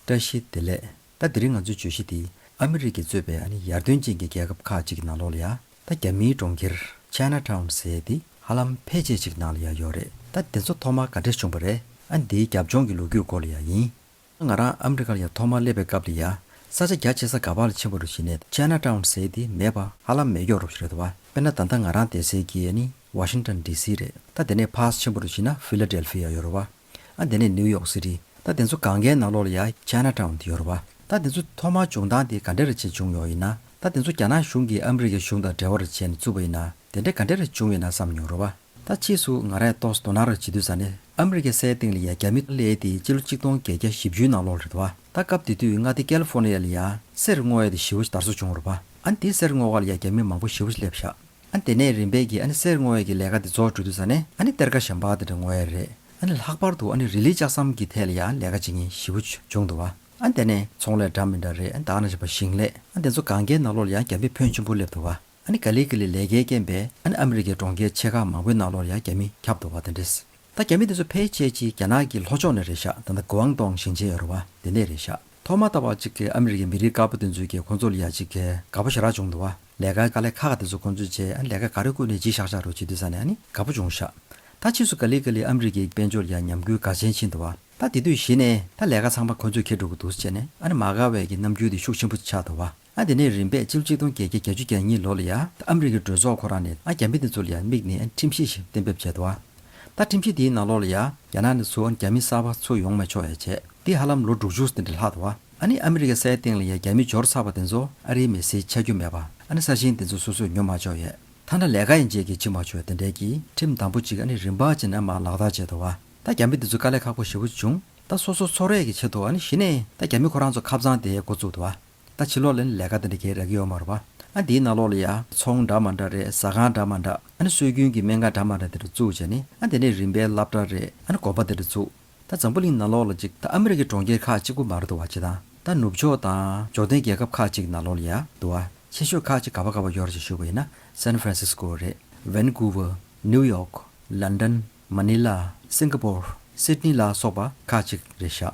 བཀྲ་ཤིས་བདེ་ལེགས། ད་དེ་རིང་ང་ཚོའི་བརྗོད་གཞི་དེ་ཨ་མི་རི་ཀས་གཙོས་པའི་ཡར་ཐོན་ཅན་གྱི་རྒྱལ་ཁབ་ཁག་ཅིག་གི་ནང་ལོགས་ལ་ཡ། ད་རྒྱ་མིའི་གྲོང་ཁྱེར China Town ཟེར་ཡས་འདི་ཧ་ལམ་ཕལ་ཆེར་ཅིག་ནང་ལ་ཡ་ཡོད་རེད། ད་དེ་ཚོ་ཐོག་མར་ག་འདྲས་བྱུང་བ་རེད་ཨ་འདིའི་རྒྱབ་ལྗོངས་ཀྱི་ལོ་རྒྱུས་སྐོར་ལ་ཡ་ཡིན། ང་རང་ཨ་མི་རི་ཀ་ལ་ཡ་ཐོག་མར་སླེབས་པའི་སྐབས་ལ་ཡ། ས་ཆ་རྒྱ་ཆེ་ས་ག་བར་ལ་ཕྱིན་བ་རུ་བྱས་ནས China Town ཟེར་ཡས་འདི་མེད་པ་ཧ་ལམ་མེད་མགྱོགས་རུ་རེད་བ། དཔེར་ན་ད་ལྟ་ང་རང་བསྡད་སའི་གི་ཡ་ནི Washington DC རེད། ད་དེ་ནས་ཕར་ཕྱིན་བ་རུ་བྱས་ན Philadelphia ཡོད་རེད་བ། ཨ་དེ་ནས་ནིའུ་ཡོག་སི་ཏི། ད་དེ་ཚོ་གང་གའི་ནང་ལོགས་ལ་ཡ China Town དེ་ཡོར་བ། ད་དེ་ཚོ་ཐོག་མར་བྱུང་སྟངས་དེ་ག་འདྲེ་ར་བྱས་བྱུང་ཡོག་ཡིན་ན། ད་དེ་ཚོ་རྒྱ་ནག་གཞུང་གིས་ཨ་མི་རི་ཀའི་གཞུང་དང་འབྲེལ་བ་ར་བྱས་ནས་བཙུགས་པ་ཡིན་ན་དེ་འདྲེ་ག་འདྲེ་ར་བྱུང་ཡོད་ན་བསམ་མྱོང་རོགས་པ། ད་ཕྱིས་སུ་ང་རས་ཏོག་སྡོ་ནག་ར་བྱེད་དུས་ས་ནི་ཨ་མི་རི་ཀའི་སའི་སྟེང་ལ་ཡ་རྒྱ་མི་ཀླད་དེ་སྤྱི་ལོ་གཅིག་སྟོང་བརྒྱད་བརྒྱ་བཞི་བཅུའི་ནང་ལོགས་རེད་བ། ད་སྐབས་དེ་དུས་མངའ་སྡེ་ཀལ་ཧྥོ་ནི་ཡ་ལ་ཡ་སེར་སྔོ་ཡ་དེ་བཞི་བོ་དར་སོ་བྱུང་རོགས་པ། ཨ་འདི་སེར་སྔོ་བ་ལ་ཡ་རྒྱ་མི་མང་པོ་བཞི་བོ་སླེབས་བཞག། ཨ་ནི་དེ་ནས་རིམ་པས་ཀྱིས་ཨ་ནི་གསེར་བརྔོ་བའི་ཀྱི་ལས་ཀ་དེ་རྫོགས་གྲོལ་དུས་ས་ནས་ཨ་ནི་གཏེར་ཁ་ཞམ་པགས་དེ་འདྲ་བརྔོ་ཡ་རེད་ཨ་ནི་ལྷག་པར་དུ་ཨ་ནི་རི་ལི་ལྕགས་ཟམ་གྱི་ཐད་ལ་ཡ་ལས་ཀ་བྱེད་མཁན་བཞི་བོ་བྱུང་འདུག་བ་ཨ་ནི་དེ་ནས་ཚོང་ལས་འདྲ་མི་འདྲ་རེད་ཨ་ནི་དག་ན་བྱེད་པ་ཞིང་ལས་ཨ་ནི་དེ་ཚོ་གང་གའི་ནང་ལོགས་ལ་ཡ་རྒྱ་མི་ཕོན་ཆེན་པོ་སླེབས་འདུག་བ་ཨ་ནི་ག་ལི་གི་ལི་ལས་ཀའི་རྐྱེན་པས་ཨ་ནི་ཨ་མི་རི་ཀའི་གྲོང་ཁྱེར་ཆེ་ཁག་མང་པོའི་ནང་ལོགས་ལ་ཡ་རྒྱ་མི་ཁྱབ་འདུག་བ་དེ་འདྲས་ད་རྒྱ་མི་དེ་ཚོ་ཕལ་ཆེར་གྱིས་རྒྱ་ནག་གི་ལྷོ་ཕྱོགས་ནས་རེད་ཤག་ད་ནི་གུའང་ཏོང་ཞིང་ཆེན་ཡོད་རེད་བ་དེ་ནས་རེད་ཤག་ཐོག་མ་ད་བ་གཅིག་གི་ཨ་མི་རི་ཀའི་མི་རིགས་དཀར་པོ་དེ་ཚོས་ཀྱིས་ཁོང་ཚོ་ལ་ཡ་གཅིག་གི་དགའ་པོ་ཞེ་རག་བྱུང་འདུག་བ་ལས་ཀ་ལས་ཁག་དེ་ཚོ་ཁོང་ཚོས་བྱས་ཨ་ལས་ཀ་ག་རེ་བསྐུར་ནས་གྱིས་ཤག་ཤག་རུ་བྱེད་དུས་ས་ནས་ཨ་ནི་དགའ་པོ་བྱུང་ཤག་ད་ཕྱིས་སུ་ག་ལི་ག་ལི་ཨ་མི་རི་ཀའི་དཔལ་འབྱོར་ཡ་ཉམས་གུས་དགའ་ཆེན་ཕྱིན་འདུག་བ་ད་དེ་དུས་གཞི་ནས་ད་ལས་ཀ་ཚང་མ་ཁོང་ཚོས་ཁེར་འགྲོ་གི་འདུག་བྱས་ནས་ཨ་ནི་མ་དགའ་བས་ཀྱིས་རྣམ་འགྱུར་དེ་ཤུགས་ཆེན་པོ་ཆགས་འདུག་བ། ཨ་དེ་ནས་རིམ་པས་སྤྱི་ལོ་ཆིག་སྟོང་བརྒྱད་བརྒྱ་གྱ་བཅུ་གྱ་གཉིས་ལོ་ལ་ཡ་ད་ཨ་མི་རི་ཀའི་གྲོས་ཚོགས་ཁོ་རང་ནས་ཨ་རྒྱ་མི་དེ་ཚོ་ལ་ཡ་དམིགས་ནས་ཁྲིམས་གཞི་ཞིག་གཏན་འབེབས་བྱས་འདུག་ཨ་ད་ཁྲིམས་གཞི་དེའི་ནང་ལོགས་ལ་ཡ་རྒྱ་ནག་ནས་ཚུར་ཨ་རྒྱ་མི་གསར་པ་ཚུར་ཡོང་མི་ཆོག་ཡ་བྱས་འདི་ཧ་ལམ་ལོ་དྲུག་ཅུ་ཟིན་གྱི་ལྷག་འདུག་ཨ་ནི་ཨ་མི་རི་ཀའི་སའི་སྟེང་ལ་ཡ་རྒྱ་མི་འབྱོར་ཚར་བ་དེ་ཚོ་ཨ་རིའི་མི་སེར་ཆགས་རྒྱུ་མེད་པ་ཨ་ནི་ས་ཞིང་དེ་ཚོ་སོ་སོས་ཉོ་མ་ཆོག་ཡ་ད་ན་ལས་ཀ་ཡིན་རྗེས་ཀྱི་ཕྱི་མ་ཆོག་ཡ་དེ་འདྲས་ཀྱི་ཁྲིམས་དམ་པོ་ཅིག་ཨ་ནི་རིམ་པ་ཅིག་ནས་མར་ལག་བསྟར་བྱས་འདུག་ད་རྒྱ་མི་དེ་ཚོ་དཀའ་ལས་ཁག་པོ་ཞེ་པོ་བྱུང་ད་སོ་སོ་འཚོ་རས་ཀྱི་ཆེད་དུ་ཨ་ནི་གཞི་ནས་ད་རྒྱ་མི་ཁོ་རང་ཚོ་ཁ་བཙང་དེ་འགོ་བཙུགས་འདུག་ད་བྱི་ལོག་ལ་ནི་ལས་ཀ་དེ་འདྲ་བྱེད་རག་གི་ཡོད་མ་རོ། ཨ་འདིའི་ནང་ལོག་ལ་ཡང་ཚོང་འདྲ་མ་འདྲ་རེད་ཟ་ཁང་འདྲ་མ་འདྲ། ཨ་ནི་སྲོལ་རྒྱུན་གྱི་སྨན་ཁང་འདྲ་མ་འདྲ་དེ་འདྲ་བཙུགས་བྱས་ནི་ཨ་འདི་ནས་རིམ་པའི་བླ་བྲང་རེད་ཨ་ནི་དགོན་པ་དེ་འདྲ་བཙུགས། ད་འཛམ་བུ་གླིང་ནང་ལོག་ལ་ཅིག་ད་ཨ་མི་རི་ཀའི་གྲོང་ཁྱེར་ཁག་གཅིག་པུ་མ་རེད་འདུག་བ་སྤྱི་དང་ད་ནུབ་ཕྱོགས་དང་འབྱོར་ལྡན་རྒྱལ་ཁབ་ཁག་གཅིག་ནང་ལོག་ལ་ཡང་འདུག་བ་ཆེ་ཤོས་ཁག་གཅིག་ག་བ་ག་བ་ཡོད་རེད་ཅེས་ཞུས་པ་ཡིན་ན San Francisco རེད Vancouver New York London Manila Singapore Sydney ལ་སོགས་པ་ཁག་གཅིག་རེད་ཤག།